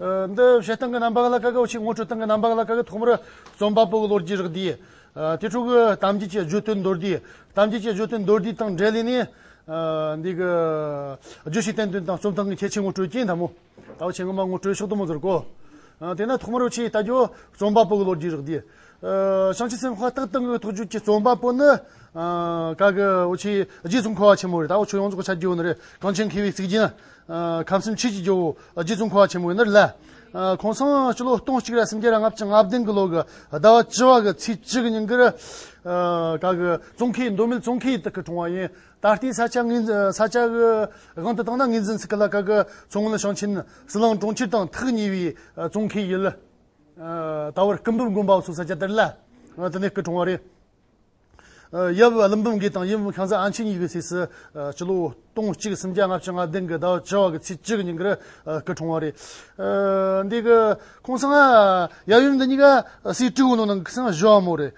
འདི་བྱེད་སྟངས་ཀྱི་རྣམ་པ་ལ་དཀའ་ཁག་ཅིག་ངོ་སྤྲོད་སྟངས་ཀྱི་རྣམ་པ་ལ་དཀའ་ཁག་ཐོག་མར་རྩོམ་པ་པོའི་ལོ་རྒྱུས་རིགས་འདི། དེ་ཕྲུ་གུ་གཏམ་རྒྱུད་ཀྱི་བརྗོད་དོན་མདོར་བསྡུས། གཏམ་རྒྱུད་ཀྱི་བརྗོད་དོན་མདོར་བསྡུས་དང་འབྲེལ་ནས། འདི་གའི་བརྗོད་གཞིའི་བསྟན་དོན་དང་རྩོམ་སྟངས་ཀྱི་ཁྱད་ཆོས་ངོ་སྤྲོད་ཀྱིན་འདའ་མོད། ད་བར་བྱེད་ངོ་མ་ངོ་སྤྲོད་ཕྱོགས་དུ་མ་ཟུར་གོ། དེས་ན་ཐོག་མར་ཆེས་ལྟ་རྒྱུ་རྩོམ་པ་པོའི་ལོ་རྒྱུས་རིགས་འདི། ཞང་ཆེན་སེམས་དཔའ་སྟག་སྟེང་གི་ཐུགས་རྒྱུད་ཀྱི་རྩོམ་པ་པོ་ནི། བཀའ་བརྒྱུད་རྗེས་སུ་མཁོ་བ་ཆེན་མོ་རེད་ད་བར་ཆོས་ཡོངས་རྫོགས་ཀྱི་ཆ་རྒྱུས་ཡོད་ནི་རེད་གངས་ཅན་མཁས་པའི་གཙིགས་རྒྱན། ཁམས་གསུམ་ཆོས་ཀྱི་ཇོ་བོ། རྗེ་བཙུན་འཁོར་བ་ཆེན་པོ་ཡིན་ནོ་ལ། ཁོང་སངས་ཀྱི་ལོ་སྟོང་གཅིག་ར་སུམ་བརྒྱ་ར་ལྔ་བཅུ་ང་བདུན་གྱི་ལོ་གི་ཟླ་བ་བཅུ་བ་གི་ཚེས་བཅུ་གི་ཉིན་གྱི་རི་ག་གི་ཙོང་ཁའི་མདོ་མིལ་ཙོང་ཁའི་དག་གི་གྲོང་བ་ཡིན། ད་ལྟའི་ས་ཆ་ངེས་འཛིན་ས་ཆ་གི་དབང་དུ་བཏང་ན་ངེས་འཛིན་ཚིག་གི་ལ་ཀ་གི་མཚོ་སྔོན་ཞིང་ཆེན་སི་ལང་གྲོང་ཁྱེར་དང་ཐག་ཉེ་བའི་ཙོང་ཁའི་ཡུལ། ད་བར་སྐུ་འབུམ་དགོན་པའོ་སོགས་ས་ཆ་དེར་ལ་དེ་ནས་སྐུ་གྲོང་བ་རེད། ཡབ་བློན་འབུམ་དགེ་དང་ཡུམ་བྷན་ཚ་ཨན་ཆིང་གཉིས་ཀྱི་ཚེ་སྲས་སྤྱི་ལོ་སྟོང་གཅིག་སུམ་བརྒྱ་ལྔ་བཅུ་ལྔ་སྟེང་གི་ཟླ་བ་བཅུ་བ་གི་ཚེས་བཅུ་གི་ཉིན་གྱི་རི་སྐེ་གྲོང་བ་རེད། འདི་གི་ཁོང་ཚང་ཡབ་ཡུམ་འདི་གཉིས་ཀ་སྲིད་སྤྲུལ་བོ་ནང་གི་ཁྱི་སངས་བཞོ་བ་མོ་རེད།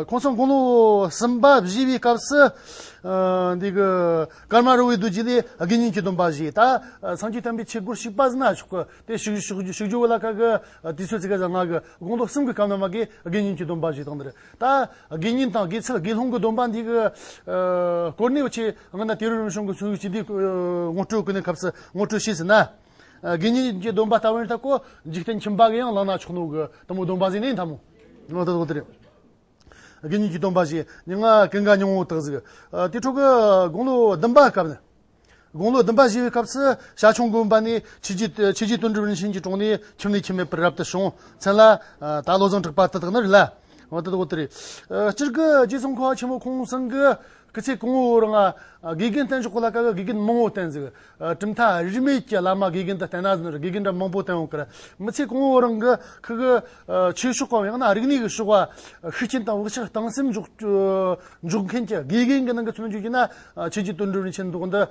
ཁོང་ཚང་དགུང་ལོ་གསུམ་པ་བཞི་བའི་སྐབས་སུ། འདི་གི་སྐར་མ་རུ་བའི་རྡུལ་གྱིས་ལས་དགེ་བསྙེན་གྱི་སྡོམ་པ་བཞེས་ད་ཚང་གྱི་དམ་པའི་ཆས་གུར་ཞིག་སྤ་ཟི་ན་ཆོག་གི་དེ་བཞུགས་རྒྱུ་བོ་ལ་ཁ་གི་དུས་ཚོད་ཚིག་ག་ཟ་ང་གི་དགོངས་རྡོར་གསུམ་གྱི་སྐབས་ན་མ་གའི་དགེ་བསྙེན་གྱི་སྡོམ་པ་བཞི་དང་འདིར་ལྟ། དགེ་བསྙེན་དང་དགེ་ཚུལ་དགེ་སློང་གི་སྡོམ་པ་འདི་གི་སྐོར་གནས་པའི་ཆེད་ང་ན་དེ་རུ་རིམ་བྱུང་གི་ཚུལ་གྱིས་འདིའི་ངོ་སྤྲོད་ཀྱི་གནས་སྐབས་སུ་ངོ་སྤྲོད་བྱེད་ཟིན་ན། དགེ་བསྙེན་གྱི་སྡོམ་པ་ལྟ་བུ་ནི་ལྟ་གོ། འཇིག་རྟེན་ཁྱིམ་བག་ཡང་ལག་ན་ཆོག་ནོ་གི་དང་པོའི་སྡོམ་པ་གཟིགས་ནས་འཐབ་མོ། དགེ་བསྙེན་གྱི་སྡོམ་པ་བཞི། སྙིང་གའི་སྙིང་བོ་དག་གཟིགས། དེ་འཕྲོ་གི་དགུང་ལོ་བདུན་པའི་སྐབས་ན། དགུང་ལོ་བདུན་པ་བཞེས་པའི་སྐབས་སུ་ཞྭ་ཆུང་དགོན་པ་ནས་ཕྱི་རྒྱུད་དུ་ཆོས་རྗེ་དོན་གྲུབ་རིན་ཆེན་གྱི་དྲུང་ནས་ཁྱིམ་ནས་ཁྱིམ་མེད་པར་རབ་ཏུ་བྱུང། མཚན་ལ། ད་བློ་བཟང་དྲུག་པ་དེ་དག་ནི་རེད་ལ། དེ་དག་དེ་རེད། སྤྱིར་སྐུ་རྗེ་ཙོང་ཁ་བ་ཆེན་མོ་ཁོང་གསུམ་གྱི་སྐུ་ཚེ་གོང་འོག་རང་དགེ་རྒན་བསྟེན་ཆོག་གོ་ལ་ཀ་བས་དགེ་རྒན་མང་བོ་བསྟེན་ཟིག། གྲུབ་མཐའ་རིས་མེད་ཀྱི་བླ་མ་དགེ་རྒན་དུ་བསྟེན་ན་ནོར་དགེ་རྒན་འདྲ་མང་བོ་བསྟེན་འོང་གི་རེད། མི་ཚེ་གོང་འོག་རང་གི་ཁུ་གུ། ཆོས་ཕྱོགས་གང་ཡང་ན་རིག་གནས་ཀྱི་ཕྱོགས། ཤུགས་རྐྱེན་དང་བག་ཆགས་གཏང་སེམས་འཇོག་མཁན་གྱི་དགེ་རྒན་གྱི་ནང་གི་མཚོན་བརྗོད་བགྱིས་ན། ཁྱེད་ཀྱི་དོན་སྒྲུབ་རིན་ཆེན་མདོག་འདི།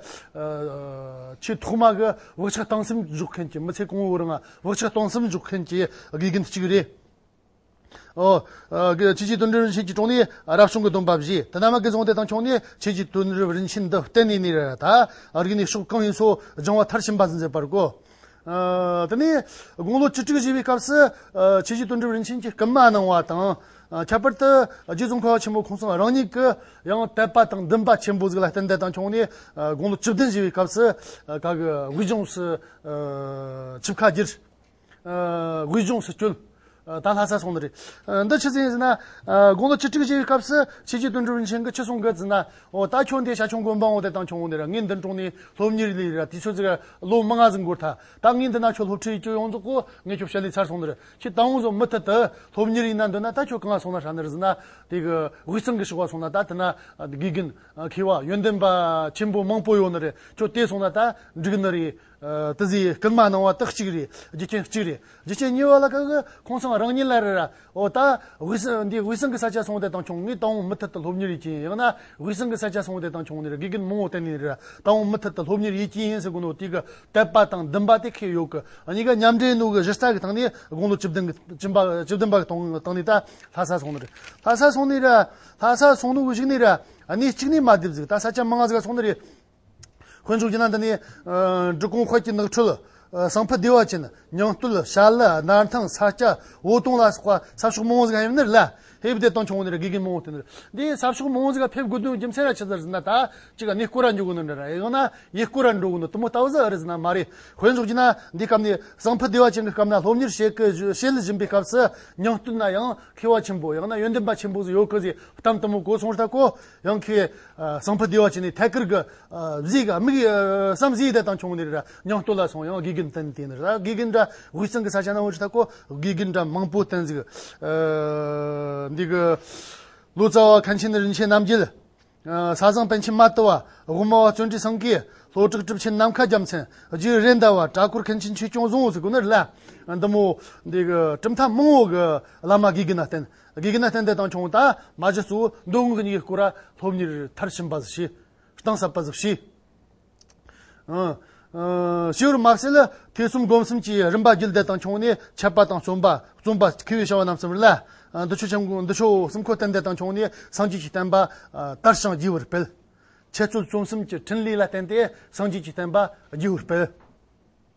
ཆེས་ཐོག་མ་གི་བག་ཆགས་གཏང་སེམས་འཇོག་མཁན་གྱི་མི་ཚེ་གང་བོར་ཡང་བག་ཆགས་གཏང་སེམས་འཇོག་མཁན་གྱི་དགེ་རྒན་དེ་གཅིག་རེད། ཁྱེད་ཀྱི་དོན་སྒྲུབ་རིན་ཆེན་གྱི་གྲོང་ནས་རབ་བྱུང་གི་སྡོམ་པ་བཞེས། དེ་རྣམས་ཀྱི་གཟུངས་དེ་དང་ཁྱོག་ནས་ཁྱེད་ཀྱི་དོན་སྒྲུབ་རིན་ཆེན་འདི་གཏན་ནས་མེད་རེ་ར་ད། རིག་ནས་ཕྱོགས་གང་ཡིན་སོགས་སྦྱང་བ་མཐར་ཕྱིན་པ་མཛད་པར་གོ། དེ་ནས་དགུང་ལོ་བཅུ་དྲུག་བཞེས་པའི་སྐབས་སུ། ཆོས་རྗེ་དོན་གྲུབ་རིན་ཆེན་གྱིས་བསྐུལ་མ་གནང་བ་དང། ཁྱད་པར་དུ་རྗེ་ཙོང་ཁ་བ་ཆེན་པོ་ཁོང་ཚང་རང་ཉིད་ཀྱི་ཡང་དད་པ་དང་འདུན་པ་ཆེན་པོ་གཟུགས་ལ་རྟེན་འབྲེལ་དང་འཁྱོངས་ནས་དགུང་ལོ་བཅུ་བདུན་བཞེས་པའི་སྐབས་སུ། དགུན་ལྗོངས་སུ་ཆིབས་ཁ་བསྒྱུར། དགུན་ལྗོངས་སུ་བསྐྱོད། ད་ལྷ་སར་སོང་ནི་རེད། འདི་ཕྱི་ཟིན་ཟིན་ན། དགུང་ལོ་བཅུ་དྲུག་བཞིའི་སྐབས་སུ་ཕྱི་རྒྱལ་དུ་འགྲོ་རིན་ཆེན་གྱི་ཁྱི་སྲུང་གི་རྫི་ན། ཨོ་ད་ཁྱོད་འདི་ཞྭ་ཆུང་དགོན་པའང་བལྟས་དང་ཁྱོད་འདི་ར་ངའི་མདུན་དྲུང་ནས་སློབ་གཉེར་ལས་རེད་ར་དུས་ཚོད་ཟིག་ལོ་མི་ལྔ་ཟིག་འགོར་ཐལ། ད་ངའི་འདི་ན་ཁྱོད་སློབ་ཁྲིད་ཡིན་ཁྱོད་ཡོངས་རྫོགས་གོ་ངས་ཁྱོད་ཕྱི་ལས་ཚར་སོང་ནི་རེད། ཁྱི་ད་འོང་བཟོ་མི་ཐུབ་དུ། སློབ་གཉེར་ཡིན་ན་འདོད་ན་ད་ཁྱོད་གང་ལ་སོང་ན་ཧྲ་ནི་ར་ཟིན་ན། དེ་གི་དབུས་གཙང་གི་ཕྱི་བ་སོང་ན་ད་དེ་ན་དགེ་རྒན། མཁས་བ། ཡོན་ཏན་པ། ཆེན་པོ་མང་པོ་ཡོད་ནི་རེད་ཁྱོད་དེ་སོང་ན་ད་འགྲིག་ནི་རེད། ཏི་ཟི་ཡིས་སྐྲུན་མ་གནང་བ་དག་གཅིག་རེད་རྒྱུ་རྐྱེན་གཅིག་རེད་རྒྱུ་རྐྱེན་གཉིས་པ་ལ་ཁག་གི་ཁོང་ཚང་རང་ཉིད་ལ་རེད་ར་འོ་ད་དབུས་སང་འདི་དབུས་སང་གི་ས་ཆ་སོང་དེ་དང་ཆུང་ངུའི་ཏང་ཨུ་མུ་མཐུད་དུ་སློབ་གཉེར་ཡོད་ཀྱིན་ཡང་ན་དབུས་སང་གི་ས་ཆ་སོང་དེ་དང་ཆུང་ནས་དགེ་རྒན་མང་བོ་གཏན་ནས་རེད་ར་ཏང་ཨུ་མུ་མཐུད་དུ་སློབ་གཉེར་ཡོད་ཀྱིན་ཡིན་ཟེར་དགུང་ལོ་དུས་ཀྱི་དད་པ་དང་འདུན་པ་དེ་ཁེལ་ཡོད་ཀི་གཉིས་ཀ་མཉམ་འབྲེལ་གནུག་གི་གཞི་རྩ་གི་ཐང་ནས་དགུང་ལོ་བཅུ་བདུན་གི་བཅུ་བདུན་པ་གི་ཏང་ནས་ད་ལྷ་ས་སོང་ནི་རེད་ལྷ་ས་སོང་ནི་ར་ལྷ་ས་སོང་ནུ་གཞིག་ནི་ར་གནས་གཅིག་ནས་མ་བསྡེབས་ཟིག་ད་ས་ཆ་མང་ཟིག་སོང་ནི་རེད། ཁོས་འཇུག་ཅིང་ན་འདི་ནས། འབྲི་གུང་ཁོལ་གྱི་ནགས་ཁྲོད། ཟངས་ཕུད་སྡེ་བ་ཅན། ཉང་སྟོད། ཤར་ལི། སྣར་ཐང། ས་སྐྱ། འོ་དོང་ལ་སོགས་པ། ས་ཕྱོགས་མང་བོ་ཟིག་ཧེབ་ནི་ལ། ཧེབ་བདེ་སྟོང་ཆུང་བོ་ནི་ར་དགེ་རྒན་མང་བོ་སྟེ་ནི་ར། འདིའི་ས་ཕྱོགས་མང་བོ་ཟིག་ལ་ཕེབས་དགོས་དོན་རྒྱུ་མཚན་ར་ཆི་ཟེར་ཟིན་ན་ད། གཅིག་ག་ནི་སྐུ་ར་འཇུག་གི་ནི་འདྲ་ར། ཡང་ན། ཡི་སྐུ་ར་འགྲོ་གི་ནི་དུ་མོ་ལྟ་བུ་ཟིག་ཨ་རི་ཟིན་ན་མ་རེད། ཁོས་འཇུག་ཅིང་ན། འདི་སྐབས་ནི། ཟངས་ཕུད་སྡེ་བ་ཅན་གྱི་སྐབས་ན་སློབ་གཉེར་བྱེད་ཀི། བྱེད་བཞིན་པའི་སྐབས་སུ། ཉང་སྟོད་ན་ཡང། མཁས་བ་ཆེན་པོ། ཡང་ན་ཡོན་ཏན་པ་ཆེན་པོ་ཟིག་ཡོད་ཀི་ཟིག་གཏམ་དུ་མོ་གོ་སོང་ར་ཐག་གོ། ཡང་ཁོས་གསང་ཕུ་བདེ་བ་བྱས་ནས་ཐད་ཀར་གྱི་གཟིག་བསམ་གཟིགས་དེ་དང་ཆུང་ནས་ར་ཉང་སྟོད་ལ་སོང་ཡང་དགེ་རྒན་བསྟེན་དེ་ནས་ར་དགེ་རྒན་འདྲ་དབུས་གཙང་གི་ས་ཆ་ནང་བོད་ཆུ་ཐ་ཀོ་དགེ་རྒན་འདྲ་མང་པོ་བསྟེན་གཟིགས་འདི་གི་ལོ་ཙཱ་བ་མཁན་ཆེན་རིན་ཆེན་རྣམ་རྒྱལ། ས་བཟང་པན་ཆེན་མ་ཏི་བ། དབུ་མ་བ་བརྩོན་འགྲུས་སངས་གིས། ལྷོ་བྲག་གྲུབ་ཆེན་ནམ་མཁའ་རྒྱ་མཚན། རྗེ་རེད་མདའ་བ། བྲག་འཁོར་མཁན་ཆེན་ཆོས་སྐྱོང་བཟང་བོ་སོགས་ཀུན་ནས་ལ་འདི་མོ་འདི་གི་གྲུབ་མཐའ་མང་བོ་གི་བླ་མ་དགེ་རྒན་ལ་བསྟེན། དགེ་རྒན་སྟན་འདེད་དང་ཆུང་དང་མ་བཞི་གཙོ་བོ་མདོ་དབུས་ཉིས་བརྐོ་ར་སློབ་གཉེར་མཐར་ཕྱིན་པ་བཞི། གཏིང་ཟབ་པ་བཞི། བྱེའུ་རུ་དམར་སེར་ཐེ་ཚོམ་སྒོམ་གསུམ་གྱི་རིམ་པ་རྒྱུད་འདེད་དང་ཆུང་ནས་ཆད་པ་དང་བརྩོན་པ་བརྩོན་པ་ཁེ་བའི་བྱ་བ་རྣམས་གསུམ་རེ་ལ། འདུ་བྱེད་གསུམ་འཁོར་སྟན་འདེད་དང་ཆུང་ནས་སངས་རྒྱས་ཀྱི་བསྟན་པ་དར་ཞིང་རྒྱས་པར་སྤེལ། འཆད་རྩོད་རྩོམ་གསུམ་གྱི་ཕྲིན་ལས་ལ་བརྟེན་ཏེ་སངས་རྒྱས་ཀྱི་བསྟན་པ་རྒྱས་པར་སྤེལ།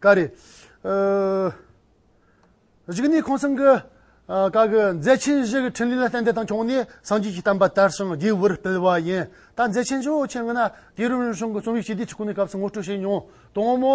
ཀ་རེད། གཞིགས་ནས་ཁོང་སེང་གི་བཀའ་གི་མཛད་ཆེན་བཞི་གི་ཕྲིན་ལས་ལ་གཏན་འདེབས་དང་འཁྱོངས་ནས་སངས་རྒྱས་ཀྱི་གཏམ་པ་དར་ཞིང་རྒྱས་པོར་སྤེལ་བ་ཡིན། ད་མཛད་ཆེན་བཞི་བོ་ཆེ་ལྔ་ན་དགེ་རུ་རིན་གཞུང་གི་རྩོམ་ཡིག་སྤྱི་བདེ་ཆུ་ཁུངས་ནས་སྐབས་སུ་ངོ་སྤྲོད་བྱས་མྱོང། དང་པོ།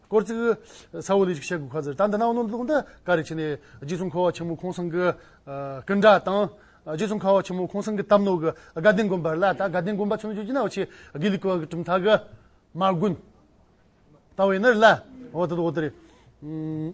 སྐོར་ཚིག། ས་འོག་ལས་ཅིག་བཤད་དགོས་ཁ་ཟེར་ད་འདི་ནའོ་ནོར་འདུག་འདི་ཀ་རེ་བྱས་ནས་རྗེ་ཙོང་ཁ་བ་ཆེན་མོ་ཁོང་སེང་གི་སྐུ་འདྲ་དང། རྗེ་ཙོང་ཁ་བ་ཆེན་མོ་ཁོང་སེང་གི་སྟབས་ནོར་གི་དགའ་ལྡན་དགོན་པར་ལ་ད་དགའ་ལྡན་དགོན་པ་ཆུ་ནོར་ཆུ་རྒྱུན་ན་འོ་ཆེ་དགེ་ལེགས་ཀྱི་གྲུབ་མཐའ་གི་མ་དགོན་ད་འོ་ཡེ་ནར་ལ་འོ་ད་དུ་འོ་ད་རེད།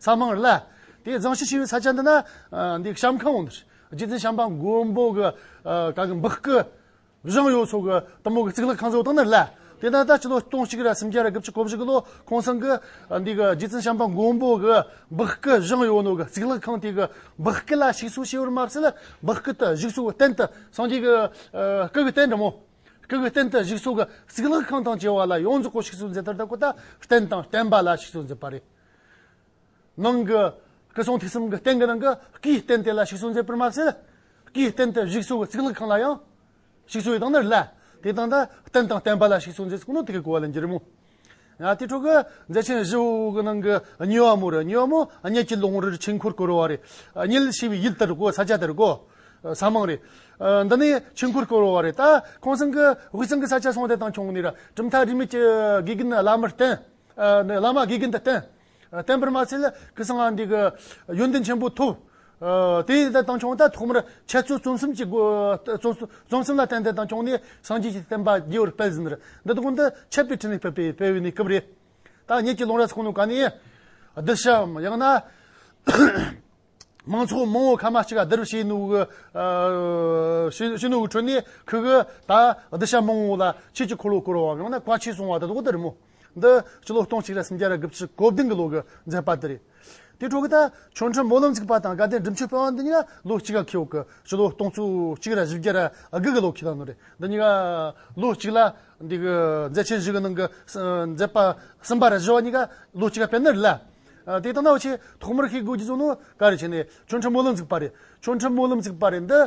ཚང་མང་རླ། དེ་གཙང་ཞིང་ཆེ་བའི་ས་ཆ་འདི་ན། འདི་གཤམ་ཁང་འོང། རྗེ་བཙུན་བྱམས་པ་མགོན་པོ་གི། གང་གི་འབག་གི། བཞེངས་ཡོད་ཚོགས་ཀྱི་གཏུམ་མོ་གི་གཙུག་ལག་ཁང་གཙོ་བོ་དང་ནི་རླ། དེ་ན་ད་ཕྱི་ལོ་སྟོང་གཅིག་རེ་སུམ་བརྒྱ་རེ་དགུ་བཅུ་གོ་བཞི་གི་ལོ་ཁོང་སང་གི། འདི་གི་རྗེ་བཙུན་བྱམས་པ་མགོན་པོ་གི། འབག་གི་བཞེངས་ཡོད་ནོར་གི་གཙུག་ལག་ཁང་དེ་གི། འབག་གི་ལ་ཞིག་གསོ་བྱས་པར་མ་ཟད། འབག་གི་དུ་བཞུགས་ཚོགས་གཏན་དུ་སངས་རྒྱས་ཀྱི། སྐུ་གི་རྟེན་འགྲམ་མོ། སྐུ་གི་རྟེན་དུ་བཞུགས་ཚོགས་ཀྱི་གཙུག་ལག་ཁང་དང་བཅས་བ་ལ་ཡོངས་རྫོགས་སྐོར་ཞིག་གསོ་མཛད་ལྟར་དག་པོ་དང་རྟེན་དང་བརྟེན་པ་ལ་ཞིག་གསོ་མཛད་པ་རེད། ནང་གི་སྐུ་གསུང་ཐུགས་གསུམ་གྱི་རྟེན་གྱི་ནང་གི་སྐུའི་རྟེན་དེ་ལ་ཞུགས་སོ་མཛད་པར་མ་ཟད། སྐུའི་རྟེན་དུ་བཞུགས་སོ་བའི་ཚིག་ལྷག་གང་ལ་ཡང། ཞུགས་སོ་ཡི་དང་ནི་བླ། དེ་དང་འདྲ་རྟེན་དང་བརྟེན་པ་ལ་ཞུགས་སོ་མཛད་ཚིག་ནི་དེ་གའི་གོ་བ་ལ་འགྱུར་མོད། ཡང་དེའི་ཁྲོད་ཀྱི་མཛད་ཆེན་བཞི་བོ་གི་ནང་གི་ཉི་བ་མོ་རེ་ཉི་བ་མོ་སྙེད་ཀྱི་ལོང་རིར་ཆོས་འཁོར་བསྐོར་བ་རེ། ཉིལ་ཞེས་པའི་ཡུལ་དེར་བསྐོར་ས་ཆ་དེར་བསྐོར། ས་མང་རེ། འདི་ནས་ཆོས་འཁོར་བསྐོར་བ་རེ་ལྟ། ཁོང་སེང་གི་དབུས་གཙང་གི་ས་ཆ་སོང་དེ་དང་ཁྱུང་ནེ་ར་གྲུབ་མཐའ་རིས་མེད་ཀྱི་དགེ་རྒན་བླ་མར་བསྟེན། བླ་མ་དགེ་རྒན་དང་བསྟན། བསྟན་འཕེར་མ་ཚེ་ལ་ཀི་སང་ངང་འདི། ཡོན་ཏན་ཆེན་པོ་ཐོབ། དེ་ཡི་དང་ཆུང་དང་ཐོག་མར་འཆད་རྩོད་རྩོམ་གསུམ་གྱི་སྒོ། རྩོམ་གསུམ་ལ་བརྟེན་ཏེ་དང་ཆུང་ནས་སངས་རྒྱས་ཀྱི་བསྟན་པ་རྒྱས་པར་སྤེལ་ཟིན། འདི་དག་འདི་འཆད་པའི་ཕྲིན་ལས་སྤེལ་པའི་སྤེལ་བའི་གནས་སྐབས་རེད། ད་ངེད་ཀྱི་ལུང་རྭ་ཚོགས་ནོར་ག་ནས། བསྡུ་བྱའམ་ཡང་ན། མང་ཚོགས་མང་བོ་ཁ་མ་གཅིག་ག་དིར་བྱེད་ནུ་གི་བྱེད་ནུ་གི་ཁྲོད་ནས་ཁི་གི་ད་སྡི་ཞབས་མང་བོ་ལ་ཁྱེད་ཀྱི་འཁོར་ལོ་བསྐོར་བའམ་ཡང་ན་བཀའ་ཆོས་གསུང་བ་དེ་དག་དིར་མོ་འདི་སྤྱི་ལོ་སྟོང་གཅིག་རེ་སུམ་བརྒྱ་རེ་དགུ་བཅུ་གོ་བདུན་གི་ལོ་གི་མཛད་པ་དེ་རེད། དེའི་འཕྲོ་གི་ད་ཆོས་འཕྲུལ་སྨོན་ལམ་ཚིག་པ་དང་དགའ་ལྡན་སྒྲུབ་མཆོད་དཔལ་བ་འདི་གཉིས་ཀ་ལོ་གཅིག་ག་ཁེའོ་གི་སྤྱི་ལོ་སྟོང་ཚོ་གཅིག་རེ་བཞི་བརྒྱ་རེ་དགུ་གི་ལོ་ཁེ་ད་ནོ་རེད་འདི་གཉིས་ཀ་ལོ་གཅིག་ལ་འདི་གི་མཛད་ཆེན་བཞི་གི་ནང་གི་མཛད་པ་གསུམ་པ་རེ་བཞི་བ་གཉིས་ཀ་ལོ་གཅིག་ག་སྤེལ་ནི་རེད་ལ། དེ་ལྟ་ན་འོ་ཆེ་ཐོག་མར་ཤེས་དགོས་རྒྱུ་ཚོ་ནི་ག་རེ་བྱས་ནས་ཆོ་འཕྲུལ་སྨོན་ལམ་བཙུགས་པ་རེད། ཆོ་འཕྲུལ་སྨོན་ལམ་བཙུགས་པ་རེད་འདི།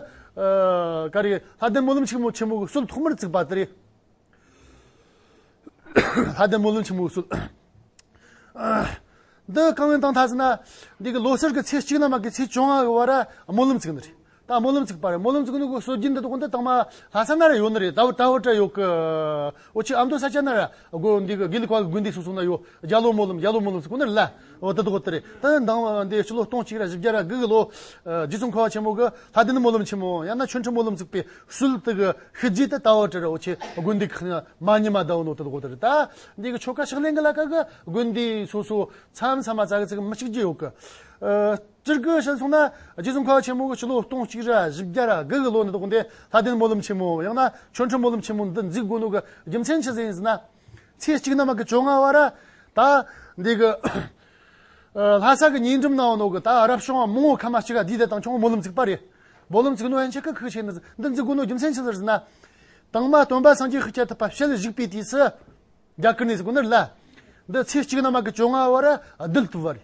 ག་རེ། ལྷ་ལྡན་སྨོན་ལམ་ཆེན་མོ་ཆེན་མོ་གི་སྲོལ་ཐོག་མར་བཙུགས་པ་དེ་རེད། ལྷ་ལྡན་སྨོན་ལམ་ཆེན་མོའི་སྲོལ། འདི་རྐང་བའི་སྟངས་ཐག་བཅད་ན། འདི་གི་ལོ་སར་གི་ཚེས་གཅིག་ནམ་ཡང་གི་ཚེས་བཅོ་ལྔ་གི་བར་སྨོན་ལམ་བཙུགས་ནི་རེད། ད་སྨོན་ལམ་ཚིག་པ་རེད་སྨོན་ལམ་ཚིག་གི་ནུ་གུ་སོ་སྒྱིན་འདི་དག་གོན་ཏེ་ཐང་མ་ལྷ་ས་ན་རེ་ཡོད་ནི་རེད་ད་བུ་ཏྲ་བུ་ཏྲ་ཡོད་གི་འོ་ཆི་ཨ་མདོ་ས་ཆ་ན་ར་དགོ་འདི་གི་དགེ་ལི་ཁ་གི་དགོན་འདི་སོ་སོ་ན་ཡོད་རྒྱ་ལོ་སྨོན་ལམ་རྒྱ་ལོ་སྨོན་ལམ་ཚིག་གོན་ནི་རེད་ལ་འོ་དི་དགོ་དི་རེད་ད་འདང་བ་འདི་སྤྱི་ལོ་སྟོང་གཅིག་ར་བཞི་བརྒྱ་ར་དགུ་གི་ལོ་རྗེ་བཙུན་ཁ་བ་ཆེན་མོ་གི་ལྷ་སྡེ་ནི་སྨོན་ལམ་ཆེན་མོ་ཡང་ན་ཆོས་འཕྲིན་སྨོན་ལམ་ཚིག་པའི་ཧྲུལ་དི་གི་ཤི་རྗེས་ཏི་ད་བུ་ཏྲ་ར་འོ་ཆི་དགོན་འདི་གི་ཁི་མ་ཉི་མ་ད་བུ་ནོ་དི་དགོ་དི་རེད་ད་འདི་གི་ཆོ་ག་ཕྱག་ལེན་གི་ལ་ཀ་གི་དགོན་འདི་སོ་སོ་མཚམས་མཚམས་མ་ཙ་གི་ཚིག་མི་གཅིག་རྗེས་ཡོད་གི་སྤྱིར་སྐུ་ཞེས་གསུངས་ན་རྗེ་བཙུན་མཁའ་འགྲོ་ཆེན་མོ་གི་ཕྱི་ལོ་སྟོང་གཅིག་རེ་བཞི་བརྒྱ་ར་གི་གི་ལོ་ནས་དགོངས་ཏེ་ལྷ་ལྡན་སྨོན་ལམ་ཆེན་མོ་ཡང་ན་ཆོ་འཕྲུལ་སྨོན་ལམ་ཆེན་མོ་འདི་འཛིག་དགོས་ལུགས་ཀྱི་རྒྱུ་མཚན་ཇི་ཟེར་ཡིན་ཟེར་ན། ཚེས་གཅིག་ནམ་གྱི་བཅོ་ལྔ་བར། ད་འདི་གི་ལྷ་ས་གི་ཉིན་གྲུབ་ནའོ་ནོ་གི་ད་རབ་བྱུང་བ་མོ་ངོ་ཁ་མ་ཅི་ག་དུས་དེ་དང་ཆོ་ངོ་སྨོན་ལམ་འཛིག་པ་རེད། སྨོན་ལམ་འཛིག་ནོ་ཡན་ཆད་ཁག་ཁག་བྱས་ནས་འདི་འཛིག་དགོས་ནོ་རྒྱུ་མཚན་ཅི་ཟེར་ཟེར་ན། དང་མ་སྟོན་པ་སངས་རྒྱས་ཤིག་བྱེད་ཐུབ་པ་ཕྱེད་བཞུགས་པའི་དུས་སུ། རྒྱ་གར་ནས་སྒོ་ནར་ལ། འདི་ཚེས་གཅིག་ནམ་གྱི་བཅོ་ལྔ་བར་རྡུལ་བཏུབ་བ་རེད།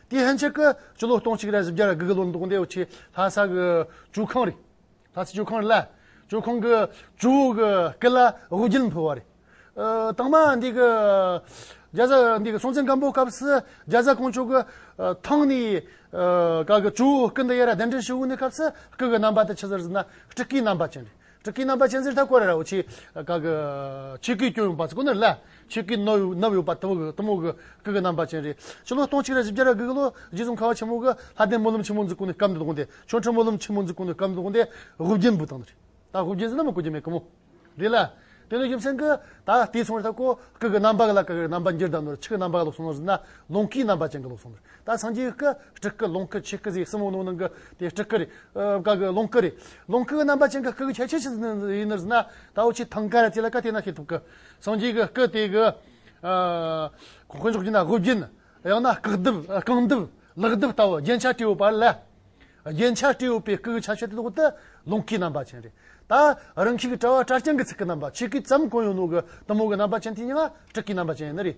དེའི་ལྷན་ཅིག་གི་སྤྱི་ལོ་སྟོང་གཅིག་རེ་བཞི་བརྒྱ་དགུ་གི་ལོ་མདོ་སྡེ་བའི་ཆེས་ལྷ་ས་གི་ཇོ་ཁང་རེད། ལྷ་སའི་ཇོ་ཁང་རེད་ལ། ཇོ་ཁང་གི་ཇོ་བོ་གི་སྐུ་ལ་དབུ་རྒྱན་ཕུལ་བ་རེད། དང་པ་འདི་གི་རྒྱ་བཟའ་འདི་གི་སྲོང་བཙན་སྒམ་པོའི་སྐབས་སུ་རྒྱ་བཟའ་དཀོན་མཆོག་གི་ཐང་ནས་ག་གི་ཇོ་བོའི་སྐུ་འདི་ཡེར་ར་གདན་འདྲེན་ཞུ་དགོས་ནས་སྐབས་སུ་སྐུ་གི་རྣམ་པ་དེ་ཕྱི་ཟུར་ཟིན་ན་སྤྲུལ་སྐུའི་རྣམ་པ་ཅན་རེད། སྤྲུལ་སྐུའི་རྣམ་པ་ཅན་གཟིར་ཐག་བཀོད་ར་བ་ཆེ། ཆོས་སྐུའི་སྐྱོན་ཡོན་པ་ཚོ་ཀུན་ནས་བསླད། ཆོས་སྐུའི་གནོད་ཡོན་པ་ཐུབ་དམུ་དགུ། སྐུ་གི་རྣམ་པ་ཅན་རེ། སྤྱི་ལོ་སྟོང་གཅིག་རེ་བཞི་བརྒྱ་རེ་དགུ་གི་ལོ། རྗེ་བཙུན་ཁ་བ་ཆེན་མོ་གི། ལྷ་ལྡན་སྨོན་ལམ་ཆེན་མོ་འཛུགས་སྐུ་ནས་སྐབས་འདིར་དགོངས་ཏེ། ཆོ་འཕྲུལ་སྨོན་ལམ་ཆེན་མོ་འཛུགས་སྐུ་ནས་སྐབས་འདིར་དགོངས་ཏེ། དབུ་རྒྱན་འབུལ་དང། ད་དབུ་རྒྱན་ཟིན་ན་མི་དགོས་ཀྱི་མེད་ཀི་མོ། རེད་ལ། དེ་ནས་རྒྱུ་མཚན་གི། ད་དེའི་ཚོང་རེ་ཐག་གོ། སྐུ་གི་རྣམ་པ་གི་ལ་ཀ་གི་རྣམ་པ་འགྱུར་ལྡང་ནོར་ཕྱི་གི་རྣམ་པ་གི་ལོག་སོང་ཟིན་ན། ལོངས་སྐུའི་རྣམ་པ་ཅན་གི་ལོག་སོང། ད་སངས་རྒྱས་སྐུ། སྤྲུལ་སྐུ་ལོངས་སྐུ་ཆོས་སྐུ་ཟེར་གསུམ་མོ་ནོར་ནང་གི་དེ་སྤྲུལ་སྐུ་རེད། བཀའ་སྐུ་ལོངས་སྐུ་རེད། ལོངས་སྐུ་རྣམ་པ་ཅན་གྱི་སྐུ་གི་ཁྱད་ཆོས་ཅི་ཡིན་ནར་ཟེར་ན། ད་འོ་ཆོས་ཐང་ཀ་རེད་དེ་ལ་བཀའ་དེ་ན་ཤེས་ཐུབ་ཀི། སངས་རྒྱས་ཀྱི་སྐུ་དེ་གི། གོང་འོག་རྒྱུ་ན་དབུ་རྒྱན། ཡང་ན་བཀག་རྡིབ་རྐང་རྡིབ་ལག་རྡིབ་ལྟ་བུ་རྒྱན་ཆ་སྤྲས་ཡོད་པ་ལ། རྒྱན་ཆ་སྤྲས་ཡོད་པའི་སྐུ་གི་ཁྱད་ཆོས་དེ་འོག་ཏུ་ལོངས་སྐུའི་རྣམ་པ་ཅན་རེད། ད་རང་ཁྱིག་གི་དྲ་བ་དྲ་རྐྱང་གི་ཚིག་གི་རྣམ་པ་ཆོས་སྐུའི་ཙམ་གང་ཡོད་ནོར་གི་གཏི་མུག་གི་རྣམ་པ་ཅན་དེ་ཡང་སྤྲུལ་སྐུའི་རྣམ་པ་ཅན་ཡིན་ནི་རེད།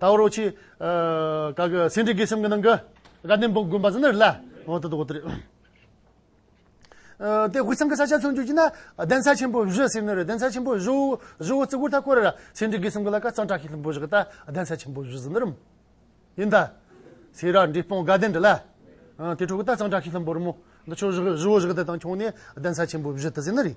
ཏའོ་རོ་ཆི། ཀ་གི་སེང་ཁྲི་དགེ་སེམས་ཀྱི་ནང་གི། དགའ་ལྡན་བོད་དགོན་པ་ཟེར་ན་རེད་ལ། འོ་དོ་དོ་དོ། དེ་དབུས་གཙང་གི་ས་ཆ་མཚོན་བརྗོད་བགྱིས་ན། གདན་ས་ཆེན་པོ་བཞི་ཟེར་ནི་རེད་གདན་ས་ཆེན་པོ་བཞི། བཞི་བོ་བརྩི་བཀུར་ཐག་བཀོད་ར་ར། སེང་ཁྲི་དགེ་སེམས་ཀྱི་ལ་ཀ་གཙང་དྲག་ཤིང་ལྷུན་པོ་བཞི་གི་ལྟ། གདན་ས་ཆེན་པོ་བཞི་ཟེར་ནི་རུམ། ཡིན་ད། སེ་ར་འབྲི་སྤུངས་དགའ་ལྡན་འདི་ལ། དེ་ཕྲུག་གི་ལྟ་གཙང་དྲག་ཤིང་ལྷུན་པོ་རུམ་མོ། འདི་ཆོས་བཞི་བཞི་བོ་བཞི་གི་ལྟ་དང་ཁྱོང་ནི་གདན་ས་ཆེན་པོ་བཞི་ལྟ་ཟེར་ནི་རེད།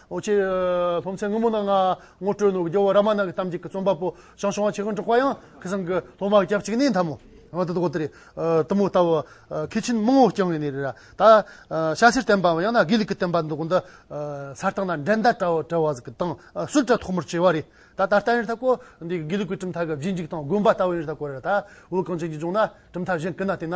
ཨོ་ཆེ། སློབ་ཚན་སྔོན་མོ་ནང་ངོ་སྤྲོད་ནུབ་རྒྱུ་ར་མ་ནག་གི་གཏམ་གཅིག་གི་རྩོམ་པ་པོ་ཞང་ཞུང་བ་ཆེ་གང་དྲུག་པ་ཡང་ཁི་སང་གི་སློབ་མ་སྐྱབས་གཅིག་ནི་མཐའ་མོ། ཨོ་ད་དུ་གོ་ད་རེད། ཏུ་མུ་ལྟ་བུ། ཁི་ཆིན་དམངས་ཨོ་རྐྱང་ཡིན་ནི་རེད་ར། ད། ཤ་སེར་བསྟན་པའམ་ཡང་ན་དགེ་ལུགས་ཀྱི་བསྟན་པ་འདི་གོ་འདི། ས་སྟེང་ན་འགྲན་ཟླ་བྲལ་བྲལ་བ་ཟིག་གི་སྟེང་སུད་ཀྲ་ཐོག་མར་བྱས་བ་རེད། ད་ད་ལྟ་ཡིན་རེད་ད་གོ། འདི་དགེ་ལུགས་ཀྱི་གྲུབ་མཐའ་གི་བརྗིད་འཇིག་དང་དགོན་པ་ལྟ་བུ་ཡིན་རེད་ད་གོ་རེ་ར། དབུས་གངས་ཅན་གྱི་ལྗོངས་ན་གྲུབ་མཐའ་གཞན་ཀི་ན་བལྟས་ན།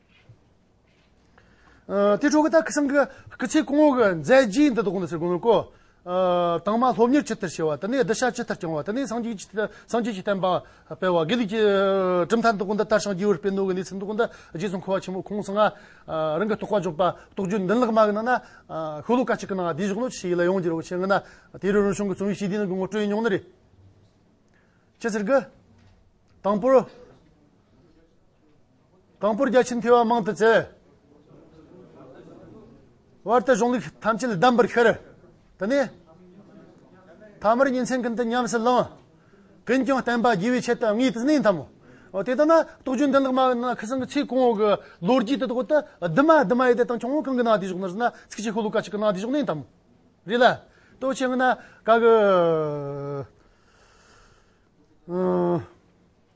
དེ་ཁྲོ་གི་ད་ཁི་སང་གི་སྐུ་ཚེ་གོང་འོག་གི་མཛད་རྗེས་འདི་དག་གོང་དུ་ཟེར་དགོས་མོད་ཀོ། དྭངས་མ་སློབ་གཉེར་ཇི་ལྟར་བྱས་བ་དེ་ནས་བསྡུ་བྱ་ཇི་ལྟར་བསྐྱང་བ་དེ་ནས་སངས་རྒྱས་ཀྱི་བསྟན་པ་སྤེལ་བ་དགེ་ལུགས་ཀྱི་གྲུབ་མཐའ་འདི་དག་འདི་ལྟར་ཞིང་སྐྱེས་བུར་སྤེལ་ནོ་གི་གནས་ཚུལ་འདི་དག་འདི་རྗེ་བཙུན་འཁོར་བ་ཆེན་པོ་ཁོང་གསུང་ང་རང་གི་རྟོགས་པ་འཇོག་པ་རྟོགས་བརྗོད་འདི་ལག་མ་གི་ནང་ན་ཤོ་ལོ་ཀ་གཅིག་གི་ནང་བསྡད་བཞག་ནོ་ཞེས་ཡིད་ལ་ཡང་འགྱུར་བའི་ཕྱིར་ངོ་ན་དེ་རིང་རང་བྱུང་གི་རྩོམ་ཡིག་ཞིག་འདི་ནང་གི་ངོ་སྤྲོད་ཉུང་ན་རེ། ཅི་ཟེར་གི། དང་པོར། དང་པོར་བརྒྱ་བྱིན་འཕེལ་བ་མང་དུ་བསྩལ། བར་དུ་གཞུང་ལུགས་ཐམས་ཅད་གདམས་པར་ཤར། དེ་ནས་ཐ་མར་ཉིན་མཚན་ཀུན་ཏུ་ཉམས་སུ་བླང། ཀུན་ཀྱང་བསྟན་པ་རྒྱས་པའི་ཆེད་དུ་དངོས་དེ་གནས་དམ། དེ་ལྟར་ན་རྟོགས་བརྗོད་འདི་ལ་སྨྲ་བའི་ནང་ཁུལ་གསང་གི་ཚིག་གོང་འོག་གི་ལོ་རྒྱུས་དེ་དག་ཏུ་བསྡུ་མ་བསྡུ་མ་ཡོད་དེ་དང་ཁྱོད་གང་གི་ནང་དེ་བཞུགས་ནོར་ཟེར་ན་ཚིག་གཅིག་ཤོ་ལོ་ཀ་གཅིག་གི་ནང་དེ་བཞུགས་གནས་དམ། རེད་ལ། ལྟོས་ཆེ་ངན་ན་དགའ་གི།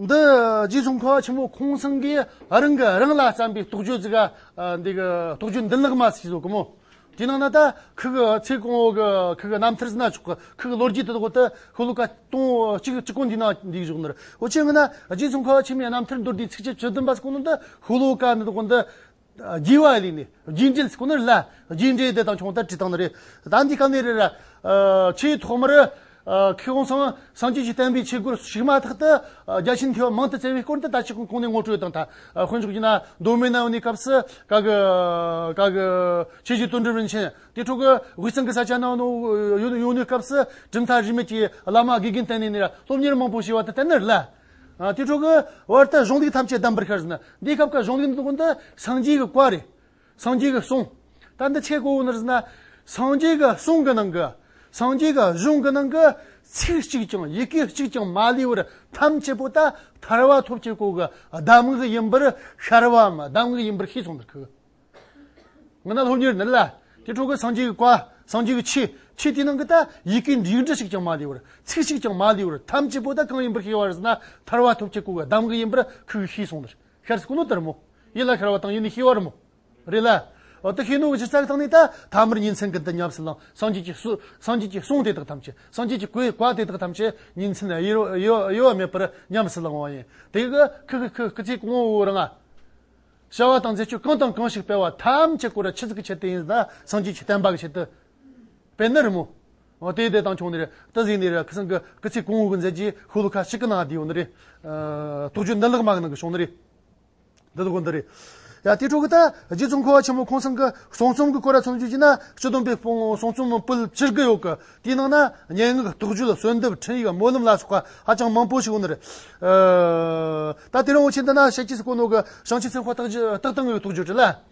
འདི་རྗེས་སུ་འཁོར་བ་ཆེན་པོ་ཁོང་སེང་གིས་རང་གིས་རང་ལ་བརྩམས་པའི་རྟོགས་བརྗོད་ཅིག་ག། འདི་གི་རྟོགས་བརྗོད་འདི་ལགས་མ་ཟིག་ཟོ་གི་མོ། དེ་ནང་ན་ད་ཁི་གི་ཚེ་གང་བོ་གི་ཁི་གི་རྣམ་ཐར་སྣ་ཆོག་གི་ཁི་གི་ལོ་རྒྱུས་དེ་དག་ཏུ་ཁོ་ལོ་ཀ་སྟོང་གཅིག་གཅིག་གོ་འདི་ན་འདི་གི་གཞུག་ནོར་འོ་ཆེ་ངོ་ན་རྗེ་ཙོང་ཁ་བ་ཆེན་མོའི་རྣམ་ཐར་མདོར་བསྡུས་ཚིགས་བཅད་བཅུ་བདུན་པ་སོགས་ནང་དུ་ཁོ་ལོ་ཀ་འདི་དག་གོ་འདི་རྒྱས་བ་ལས་ནི་རྒྱས་འགྲེལ་ཁོ་ནར་སླ་རྒྱས་འགྲེལ་དེ་དང་ཆུང་ལྟར་བྲིས་སྟངས་ནི་རེད་ད་འདི་སྐབས་ནས་རེད་ར། ཆེས་ཐོག་མར་ཁེ་དབང་ཚང་མ་སངས་རྒྱས་ཀྱིས་བསྟན་པའི་ཆོས་སྒོར་ཞུགས་མ་ཐག་ཏུ་རྒྱ་ཆེན་མཐེ་བོ་མང་དུ་བཙལ་བའི་སྐོར་འདི་ལྟ་ཅི་གང་གོང་ནས་ངོ་སྤྲོད་དང་དང་དཔོན་ཆོས་ཀྱི་ན་མདོ་མི་ནའོ་ནི་སྐབས་སུ་ག་གི་ག་གི་ཆོས་བརྒྱུད་དོན་གྲུབ་རིན་ཆེན་དེ་འཕྲོ་གི་དབུས་གཙང་གི་ས་ཆ་ནའོ་ནི་ཡོང་ནུས་སྐབས་སུ་གྲུབ་མཐའ་རིས་མེད་ཀྱི་བླ་མ་དགེ་རྒན་བསྟེན་ནས་ནི་སློབ་གཉེར་མང་པོ་བྱས་བ་དང་བསྟན་ནི་ལ། དེ་འཕྲོ་གི་བར་དུ་གཞུང་ལུགས་ཐམས་ཅད་གདམས་པར་ཤར་ཟིན་ན་འདི་སྐབས་ཀྱི་གཞུང་ལུགས་འདི་སངས་རྒྱས་ཀྱི་བཀའ་རེད། སངས་རྒྱས་ཀྱི་གསུང། ད་འདི་ཆེད་གོ་བོ་ན། སངས་རྒྱས་ཀྱི་གསུང་གི་ནང་གི། སངས་རྒྱས་ཀྱི་གཞུང་གི་ནང་གི། ཚིག་གཅིག་ཀྱང་ཡི་གེ་གཅིག་ཀྱང་མ་ལུས་པར་ཐམས་ཅད་པོ་ད་ཐར་བ་ཐོབ་ཆེད་གོ་གི་གདམས་ངག་ཡིན་པར་ཤར་བའམ་གདམས་ངག་ཡིན་པར་ཤེས་སོང་དུ་ཁུག། ངེ་ན་སློབ་གཉེར་འདི་ལ། དེ་ཁྲོ་གི་སངས་རྒྱས་ཀྱི་བཀའ། སངས་རྒྱས་ཀྱི་ཆོས། ཆོས་དེའི་ནང་གི་ད་ཡི་གེ་འདི་འདྲ་ཞིག་ཀྱང་མ་ལུས་པར་ཚིག་གཅིག་ཀྱང་མ་ལུས་པར་ཐམས་ཅད་པོ་ད་གང་ཡིན་པར་ཤེས་པ་རེད་ན་ཐར་བ་ཐོབ་ཆེད་གོ་གི་གདམས་ངག་ཡིན་པར་ཁུག་ཤེས་སོང་དུ་ཁུག། ཤར་སྐུ་ནུ་དར་མོ། ཡིད་ལ་ཤར་བ་དང་ཡིད་ནི་ཤི་བར་མོ། རེད་ལ། འོ་ཏི་ཤི་ནུ་བཞི་རྩ་གི་སྟེང་ནས་ད་ཐ་མར་ཉིན་མཚན་གི་འདི་ཉམས་སུ་བླངས་སངས་རྒྱས་ཀྱི་སུ། སངས་རྒྱས་ཀྱི་གསུང་དེ་དག་ཐམས་ཅད་སངས་རྒྱས་ཀྱི་སྐུའི་བཀའ་དེ་དག་ཐམས་ཅད་ཉིན་མཚན་དབྱེ་དབྱེ་བ་མེད་པར་ཉམས་སུ་བླང་བ་ཡིན། དེ་ཁི་ཁི་ཁི་ཁི་ཁི་ཚིག་གི་ངོ་བོའི་རང་ངག། བྱ་བ་དང་མཛད་སྤྱོད་གང་དང་གང་ཞིག་སྤེལ་བ་ཐམས་ཅད་སྐུ་ར་ཆིག་ཚིག་གི་ཆེད་དུ་ཡིན་ལ་སངས་རྒྱས་ཀྱི་བསྟན་པ་གི་ཆེད་དུ་སྤེལ་ནི་རི་མོ། ཨོ་དེ་དེ་དང་ཁྱོང་ནེར་ཏི་ཟིག་ནེར་ཁི་སང་གི་ཀི་ཚིག་ཀུང་ཧུ་གི་མཛད་ཀྱིས་ཧུ་ལུ་ཁ་ཤི་ཀི་ནང་དེའོ་ནི་རེ། ཐུགས་རྗོད་འདི་ལག་མ་གི་ནང་གི་ཤོང་ནི་རེ། འདི་ལོ་གོ་འདི་རེ། ཡ་དེ་ཕྲུག་གི་ད་རྗེ་བཙུན་འཁོར་བ་ཆེན་མོ་ཁོང་སང་གི་གསུང་རྩོམ་གི་སྐོར་ར་ཚོམ་བྱུས་ཀྱི་ན་སྤྱི་བསྡོམས་པའི་སྤུང་གསུང་རྩོམ་སྤུལ་ཕྱིར་གི་ཡོད་གི་དེའི་ནང་ན་སྙན་ངག་རྟོགས་བརྗོད་གསོལ་འདེབས་འཕྲིན་ཡིག་སྨོན་ལམ་ལ་སོགས་པ་ཧ་ཅང་མང་པོ་ཞིག་ཡོད་ནི་རེ། ད་དེ་རིང་བོ་ཆེ་འདི་ན་བཤད་ཀྱིས་སུ་གོ་ནོ་གི་བྱང་ཆུབ་སེམས་དཔའ་རྟགས་དང་གི་ཡོད་ཐུགས་རྗོད་བྲིས་ལ།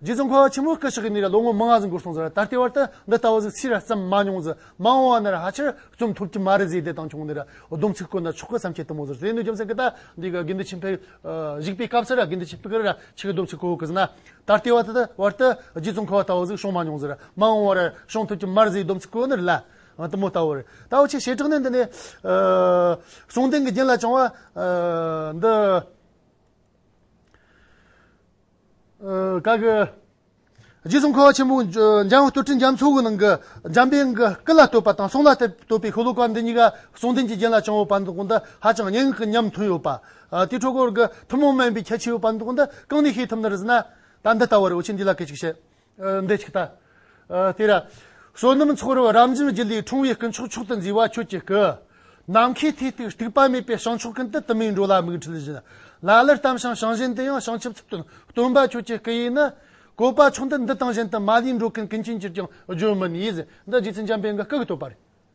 རྗེ་ཙོང་ཁ་བ་ཆེན་མོ་སྐུ་ཕྱག་གི་མི་ལ་ལོ་ངོ་མང་ཟིག་འགོར་སོང་ཟེར་བ་ད་ལྟའི་བར་དུ་འདི་ལྟ་བ་ཟིག་ཕྱིས་ར་བརྩམས་མ་མྱོང་ཟེར་མ་འོང་བ་ན་ར་ཧ་ཆེར་བརྩོམ་ཐུབ་ཀྱི་མ་རེད་ཟེར་བདེ་ཐང་ཆུང་ངུ་ནས་ར་སྡོམ་ཚིག་བཀོད་ན་ཆོག་གི་བསམ་ཁྱེད་ལྟ་མོ་ཟེར་ཟས་ནུས་རྒྱུ་མཚན་གི་ད་འདི་ག་དགེ་འདུན་ཆེན་ཕེབས་བཞུགས་པའི་སྐབས་སུ་ར་དགེ་འདུན་ཆེན་ཕེབས་ཀྱི་ར་ཆེ་གི་སྡོམ་ཚིག་བཀོད་གི་ཟིན་ན་ད་ལྟའི་བར་དུ་བར་དུ་རྗེ་ཙོང་ཁ་བ་ལྟ་བ་ཟིག་བྱུང་མ་མྱོང་ཟེར་ར་མ་འོང་བ་ར་བྱུང་ཐུབ་ཀྱི་མ་རེད་ཟེར་སྡོམ་ཚིག་བཀོད་ནི་རེད་ལ་ལྟ་མོ་ལྟ་བུ་རེད་ད་བུ་ཆེ་བྱེ་བྲག་ནི་འདི་ནས་གསུང་ལྡན་གྱི་རྒྱན་ལ་བྱུང་བ་འདི། བཀའ་བསྒོས། རྗེ་བཙུན་ཁོ་བོ་ཆེན་པོས་འཇམ་བསྟོད་ཁྲི་འཇམ་མཚོ་བོའི་ནང་གི་འཇམ་དཔལ་གྱི་སྐུ་ལ་བསྟོད་པ་དང་གསུང་ལ་བསྟོད་པའི་ཤོ་ལོ་ཀ་འདི་གཉིས་ཀ་གསུང་རྟེན་གྱི་རྒྱན་ལ་བྱང་བའི་བར་འདུག་འདི་ཧ་ཅང་སྙན་ངག་གི་ཉམས་མཐུན་ཡོད་པ། དེའི་འཕྲོས་སྐོར་གྱི་ཐུན་མོང་མིན་པའི་ཁྱད་ཆོས་ཡོད་པ་འདུག་འདི་གང་ནས་ཤེས་ཐུབ་ན་རེ་ཟེར་ན། ད་འདི་ལྟ་བུ་རེད་འོ་ཆེན་འདི་ལ་སྐད་ཅིག་བཤད། འདི་ཅིག་ལྟ། ཏེ་ར། བསོད་ནམས་ཚོགས་རབ་རབ་འབྱིན་རྒྱུ་ལས་འཁྲུངས་བའི་སྐུ་མཆོག་མཆོག་ཏུ་མཛེས་པ་ཁྱོད་ཀྱི་སྐུ། ནམ་མཁའི་མཐས་གཏུགས་སྟུག་པ་མེད་པའི་བྱང་ཕྱོགས་ཀུན་ཏུ་དུ་མས་འགྲོ་ལ་མིག་འཕྲུལ་བཞིན། ལ་ལར་བལྟམས་ཤིང་བྱང་བཞིན་དུ་ཡང་བྱང་ཆུབ་ཚུལ་སྟོན་སྟོན་པ་ཁྱོད་ཀྱི་སྐུ་ཡིས་ནི། བཀོད་པ་མཆོག་འདི་འདི་དང་གཞན་དུ་མ་ལུས་འགྲོ་ཀུན་ཀུན་མཁྱེན་ཅིར་ཀྱང་བརྗོད་མིན་ཡིད་བཞིན་འདི་རྗེ་བཙུན་འཇམ་དཔལ་གྱི་སྐུ་གི་བསྟོད་པ་རེད།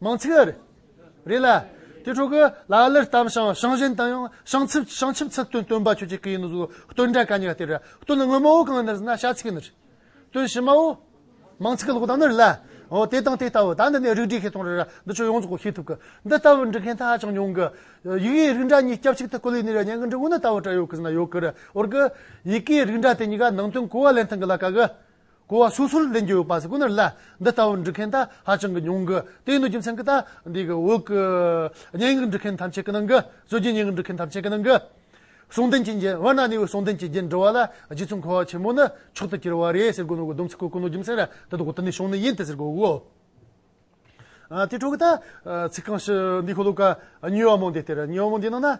མང་ཚིག་ཨ་རི་རེད་ལ། དེ་ཕྲུ་གུ་ལ་ཨ་ལིར་གཏམ་བྱང་བྱང་བཞིན་དང་ཡང་བྱང་ཚིབ་བྱང་ཆིབ་ཚིག་དོན་སྟོན་པ་ཁྱོད་ཀྱི་གི་ཡིན་ནོ་གཟུགས་སྟོན་འདྲ་ག་ཉི་ག་སྟེར་ར་སྟོན་ལ་སྔོན་མ་བོ་གང་ནི་རིགས་ན་བྱ་ཚིག་ནི་རེད། དོན་ཕྱི་མ་བོ། མང་ཚིག་གི་ལོག་ལྟ་ནི་རེད་ལ། འོ་དེ་དང་དེ་ལྟ་བུ་ད་འདི་ནས་རིགས་བསྒྲིགས་ཤིག་གཏོང་རེ་ར་འདི་ཆོས་ཡོངས་རྫོགས་གོ་ཤེས་ཐུབ་གི། འདི་ལྟ་བུ་འབྲི་མཁན་ད་ཧ་ཅང་ཉུང་གི། ཡིག་གེའི་རིགས་འདྲ་གཉིས་སྐྱབས་གཅིག་ཏུ་བཀོད་ལེ་ནི་ར་ཉན་གི་འབྲི་འོ་ན་ལྟ་བུ་བྲ་ཡོད་གི་ཟི་ན་ཡོད་གི་ར་འོར་གི། ཡིག་གེའི་རིགས་འདྲ་དེ་གཉིས་ཀ་ནང་དོན་གོ་བ་ལེན་ཐང་གི་ལ་ག་གི། གོ་བ་སོ་སོར་འདྲེན་རྒྱུ་ཡོད་པ་སོགས་ཁོ་ནར་བསླད། འདི་ལྟ་བུར་འབྲི་མཁན་དག་ཧ་ཅང་གི་ཉུང་གི། དེ་ཡིན་དུས་རྒྱུ་མཚན་གྱི་དག་འདས་ཀྱི་འོག་གི། སྙན་ངག་འབྲི་མཁན་ཐམས་ཅད་ཀྱི་ནང་གི། སྲོལ་རྒྱུན་སྙན་ངག་འབྲི་མཁན་ཐམས་ཅད་ཀྱི་ནང་གི། གསུང་རྟེན་གྱི་རྒྱན། བར་སྣང་ནས་བའི་གསུང་རྟེན་གྱི་རྒྱན་འབྲི་བ་ལ་རྗེ་བཙུན་གོ་བ་ཆེན་མོ་ནི་མཆོག་ཏུ་གྱུར་བ་རེད་ཟེར་དགོས་ནོ་གི་སྡོམ་ཚིག་གོ་གི་ནོ་རྒྱུ་མཚན་ར་དོན་དུ་གོ་དོན་ནི་བྱུང་ནི་ཡིན་ཏེ་ཟེར་དགོས་གོ། དེ་ཕྲུག་གི་ད་ཚིག་རྐང་ཞི་འདི་ཁོ་ལོ་ཀ་ཉོས་བ་མོ་འདི་སྟེར་ཉོས་བ་མོ་འདི་ནང་ན།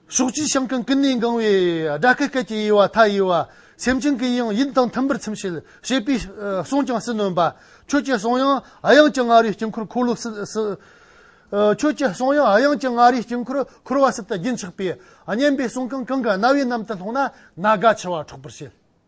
ཕྱོགས་བཅུའི་ཞིང་ཀུན་ཀུན་ནས་འགང་བའི་དགྲ་སྐད་སྐད་ཀྱི་དབྱེ་བ་མཐའ་དབྱེ་བ། སེམས་ཅན་གྱི་དབྱིངས་ཡིད་དང་མཐུན་པར་ཚིམ་བྱེད་ཤེས་པའི་གསུང་ཀྱང་སྲིད་ནོན་པ། ཁྱོད་ཀྱི་གསུང་དབྱངས་དབྱངས་ཀྱི་ང་རོའི་དཀྱིལ་འཁོར་འཁོར་ལོ་སྲིད། ཁྱོད་ཀྱི་གསུང་དབྱངས་དབྱངས་ཀྱི་ང་རོའི་དཀྱིལ་འཁོར་འཁོར་བ་སྲིད་དུ་རྒྱུན་ཆགས་པས། སྙན་པའི་གསུང་གང་གང་གི་རྣ་བའི་གནམ་དུ་ལྷུང་ན་ན་རྒ་འཆི་བ་འཕྲོག་པར་བྱེད།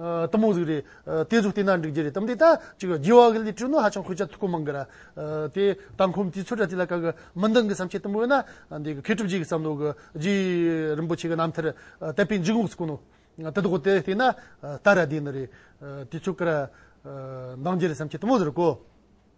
གཏི་མུག་གཟུགས་རེད། དེ་གཟུགས་བསྟེན་ན་འགྲིག་རྒྱུ་རེད་དམ། དེ་ལྟར་གཅིག་རྒྱུ་བ་གི་ལས་སྤྲོ་ན་ཧ་ཅང་ཁོས་ཅག་ཐུགས་ཁུར་མང་གི་ར། དེ་ལྟ་ཁོམ་དུས་ཚོད་དྲ་ཚིགས་ལ་དཀའ་གི་མི་འདང་གི་བསམ་འཆར་དུམ་བུ་ཡོད་ན། འདི་གི་མཁས་གྲུབ་རྗེས་ཀྱི་བསམ་བློ་གི་རྗེ་རིན་པོ་ཆེ་གི་རྣམ་ཐར་དད་པའི་འཇུག་ངོགས་སུ་བཀོད་ནོ། དེ་དག་གི་དེ་བསྟེན་ན་ལྟ་ར་བདེ་ནི་རེད། དུས་ཚོད་གི་ར། འདང་རྒྱུ་རེད་བསམ་འཆར་དུམ་བུ་ཟེར་གོ།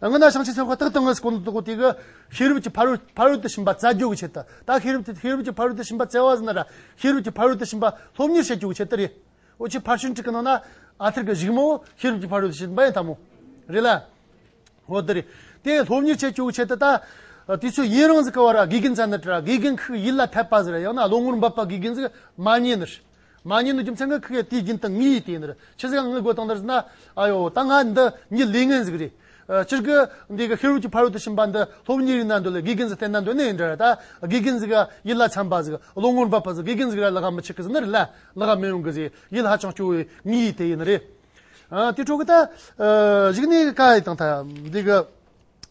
སྔོན་ན་ཞིང་ཆེན་སོགས་ཁག་ཏག་ཏག་ངང་སྐོར་འདུག་དེ་གར་ཤེས་རབ་ཀྱི་ཕ་རོལ་ཕ་རོལ་ཏུ་ཕྱིན་པ་བཙལ་རྒྱུག་བྱེད་དེ། ད་ཤེས་རབ་ཀྱི་ཤེས་རབ་ཀྱི་ཕ་རོལ་ཏུ་ཕྱིན་པ་བཙལ་བ་ཟིན་ན་ར་ཤེས་རབ་ཀྱི་ཕ་རོལ་ཏུ་ཕྱིན་པ་སློབ་གཉེར་བྱེད་རྒྱུག་བྱེད་དེ་རེད། འོ་ཕྱིས་ཕར་ཞུན་ཁྲིག་གི་ནང་ན་ཨ་ཐེར་གྱི་བཞུགས་མོ་ཤེས་རབ་ཀྱི་ཕ་རོལ་ཏུ་ཕྱིན་པ་ཡིན་ཐ་མོ། རེད་ལ། འོ་དེ་རེད། དེ་སློབ་གཉེར་བྱེད་རྒྱུག་བྱེད་དེ་ད། དུས་ཚོད་ཡིན་རང་ཟིག་གི་བར་ར་དགེ་རྒན་བཙལ་ནི་དྲ་དགེ་རྒན་ཁག་ཡིད་ལ་འཐད་པ་ཟིག་ར་ཡང་ན་བློ་ངོར་འབབ་པ་དགེ་རྒན་ཟིག་མ་རྙེད་ནི། མ་ཉེས་ནུས་རྒྱུ་མཚན་ངག་ཁུག་ཡ་དེའི་རྒྱུན་དང་ངེས་ཡིད་དེ་ཡིན་རེད་ཕྱི་ཟིག་ཡང་ངག་དགོས་སྟངས་དར་ཟིག་ན་ཨ་ཡོ་ད་ང་འདི་གཉིས་ལས་ངན་ཟིག་རེད་སྤྱིར་གི་འདི་གི་ཧེ་རུ་ཀྱི་ཕ་རོལ་ཏུ་ཕྱིན་པ་འདི་ལྷོ་བུ་གཉིས་རིག་ན་འདོད་ལ་དགེ་རྒན་ཟིག་བསྟེན་ན་འདོད་ནི་ཡིན་འདྲ་རེད་ད་དགེ་རྒན་ཟིག་གི་ཡིད་ལ་འཚམས་པ་ཟིག་བློ་ངོར་འབབ་པ་ཟིག་དགེ་རྒན་ཟིག་ར་ལ་ཁ་མི་ཆེ་གི་ཟིག་ནི་རེད་ལ་ལ་ཁ་མི་ཡོང་གི་ཟིག་ཡིད་ཧ་ཅང་སྐྱོ་བའི་ངེས་ཡིད་དེ་ཡིན་རེད། དེའི་ཁྲོད་གི་ད་གཞིག་ནས་དཀའ་ཡི་དང་ད་འདི་གི།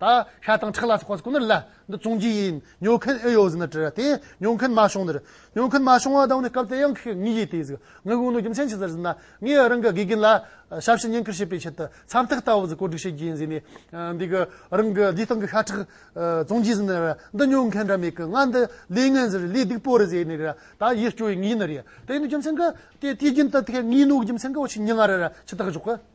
ད་ཤ་དང་ཁྲག་ལ་སོགས་པ་སྐུ་ནི་ལ་འདི་བཙོང་རྒྱུ་ཡིན། ཉོ་མཁན་ཨེ་ཡོད་ཟེར་ན་དྲིས་དེས་ཉོ་མཁན་མ་བྱུང་ཟེར། ཉོ་མཁན་མ་བྱུང་བ་དང་ནི་སྐབས་དེ་ཡང་ཁོས་ངའི་ཡིད་དེས་ངའི་དགུང་ལོ་རྒྱུ་མཚན་ཅི་ཟེར་ཟེར་ན་ངས་རང་གི་དགེ་རྒན་ལ་ཞབས་ཕྱི་ཉེན་ཁར་བྱེད་པའི་ཆེད་དུ་ཚབ་ཐིག་ལྟ་བུ་ཟིག་བཀོད་སྒྲིག་བྱེད་རྒྱུ་ཡིན་ཟེར་ནས་འདི་གི་རང་གི་བདེ་ཐང་གི་ཤ་ཁྲག་བཙོང་རྒྱུ་ཟེར་ན་འདི་ཉོ་མཁན་འདྲ་མེད་ཀི་ང་འདི་ལས་ངན་ཟེར་ལས་སྡིག་པོ་རེད་ཟེར་ནས་ད་ཡིད་སྐྱོ་བའི་ངའི་ནི་རེད་དེ་ནི་རྒྱུ་མཚན་གི་དེ་དེའི་རྒྱུན་དུ་དེ་ངའི་ནོར་རྒྱུ་མཚན་གི་འོ་ཆི་ཉི་ང་རེ་ར་ཆི་ཐག་གཞོག་གི།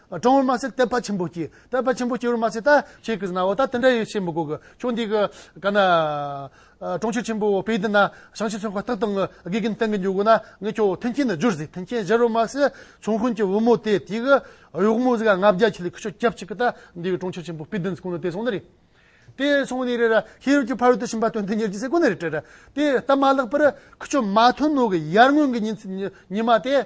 སྤྲང་བོར་མ་ཟད་དད་པ་ཆེན་པོ་སྐྱེ། དད་པ་ཆེན་པོ་སྐྱེ་བར་མ་ཟད་ད། ཁྱེད་ཀྱིས་ན་བ་ད་དེ་འདྲ་ཡིན་ཞེས་མི་གོ་གི། ཕྱོགས་འདི་གི། ག་ན། གྲོང་ཁྱེར་ཆེན་པོ་བོ་པེའི་འདི་ན། ཞང་ཆེན་ཚོན་ཁ་སྟག་དང། དགེ་རྒན་སྟེང་གི་མཇུག་གོ་ན། ངས་ཁྱོད་མཐུན་རྐྱེན་ནི་སྦྱོར་ཟིག་མཐུན་རྐྱེན་སྦྱར་བར་མ་ཟད། ཚོང་དཔོན་གྱི་བུ་མོ་དེ་དེ་གི། གཡོག་མོ་ཟིག་ལ་ལྔ་བརྒྱ་ཁྱི་ལི་ཁུ་ཤོ་སྐྱབས་གཅིག་གི་ད། འདི་གི་གྲོང་ཁྱེར་ཆེན་པོ་བོཔེའི་འདི་ཚོ་གོ་ནི་དེ་སོང་ནི་རེད། དེ་སོང་ནི་རེད། ཤེས་རབ་ཀྱི་ཕ་རོལ་ཏུ་ཕྱིན་པ་དོན་དུ་གཉེར་གྱི་ཟེར་གོ་ནི་རེད། དེ་ལྟ་མ་ལགས་པར། ཁུ་ཆོ་མ་ཐོན་ནོ་གི་ཡར་སྔོན་གྱི་ཉིན། ཉི་མ་དེ།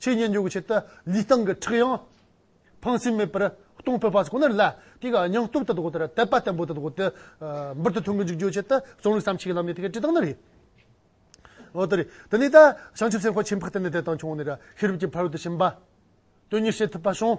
ཆོས་ཉན་འཇོག་གི་ཆེད་དུ་ལུས་སྟེང་གི་ཁྲག་ཡང་ཕངས་སེམས་མེད་པར་གཏོང་ཕོད་པ་ཞིག་ཁོ་ནར་སླད། དེ་གའི་སྙིང་སྟོབས་དེ་དག་དེར་དད་པ་བརྟན་པོ་དེ་དག་དེ་འབུར་དུ་ཐོན་གྱི་འཇུག་རྒྱུའི་ཆེད་དུ་རྩོམ་རིག་བསམ་གཞིག་གི་ལམ་ནས་དེ་གའི་བཀྲིས་བཏང་ན་རེད། འོ་དེ་རེད། དེ་ནས་ད་བྱང་ཆུབ་སེམས་དཔའ་ཆེན་འཕགས་བསྟན་ནས་དད་དང་ཆུང་ནས་ཤེས་རབ་ཀྱི་ཕ་རོལ་ཏུ་ཕྱིན་པ། དོན་གཉེར་བྱེད་ཐུབ་པ་བྱུང།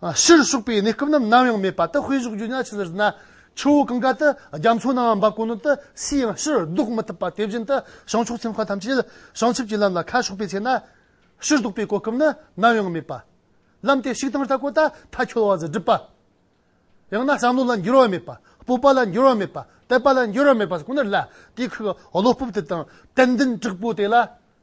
ཕྱིར་ཞོགས་པའི་གནས་སྐབས་རྣམས་ནམ་ཡང་མེད་པ་དེ་དཔེ་བཞུགས་རྒྱུ་ཉག་ཅིག་ལ་བཞུགས་ན། ཆུ་བོ་གང་གཱ་དེ་རྒྱ་མཚོ་ནང་བ་འབབ་གོ་ནོར་དེ་སུས་ཡང་ཕྱིར་བཟློག་མི་ཐུབ་པ་དེ་བཞིན་དུ་བྱང་ཕྱོགས་ཚན་ཁག་ཐམས་ཅད་ལ་བྱང་ཆུབ་ཀྱི་ལམ་ལ་ཁ་ཕྱོགས་པའི་ཚེ་ན། ཕྱིར་བཟློག་པའི་གོ་སྐབས་ནི་ནམ་ཡང་མེད་པ། ལམ་དེ་ཞིག་དང་རྟ་གོ་ད་ཐ་འཁྱོལ་བ་ཟེར་སྒྲུབ་པ། ཡང་ན་བསམ་བློ་ལ་འགྱུར་བ་མེད་པ་སྤོབས་པ་ལ་འགྱུར་བ་མེད་པ་དད་པ་ལ་འགྱུར་བ་མེད་པ་ཁོ་ནར་ལ་དེའི་ཁུག་བློ་སྤོབས་དེ་དང་དད་འདུན་དྲག་པོ་དེ་ལ་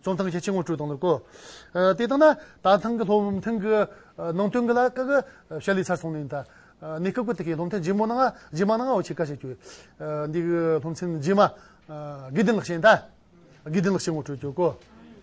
རྩོམ་ཐང་གི་ཆེད་ངོ་སྤྲོད་གཏོང་ལེན་སྐོར། དེ་ལྟར་ན། ད་ཐེངས་ཀྱི་སློབ་ཐུན་གྱི་ནང་དོན་འདི་ལ་དཀའ་ཁག་ཞལ་ལས་ཚར་སོང་ནས་ད་ནས་སྐབས་ཀྱི་དེ་གའི་སློབ་ཐུན་རྗེས་མ་ནང་རྗེས་མ་ནང་འོག་ཆེད་བཀའ་བྱེད་རྒྱུ། འདི་གའི་སློབ་ཚན་རྗེས་མ། དགེ་ལྡན་ལགས་བཤད་ན། དགེ་ལྡན་ལགས་བཤད་ངོ་སྤྲོད་རྒྱུ་སྐོར།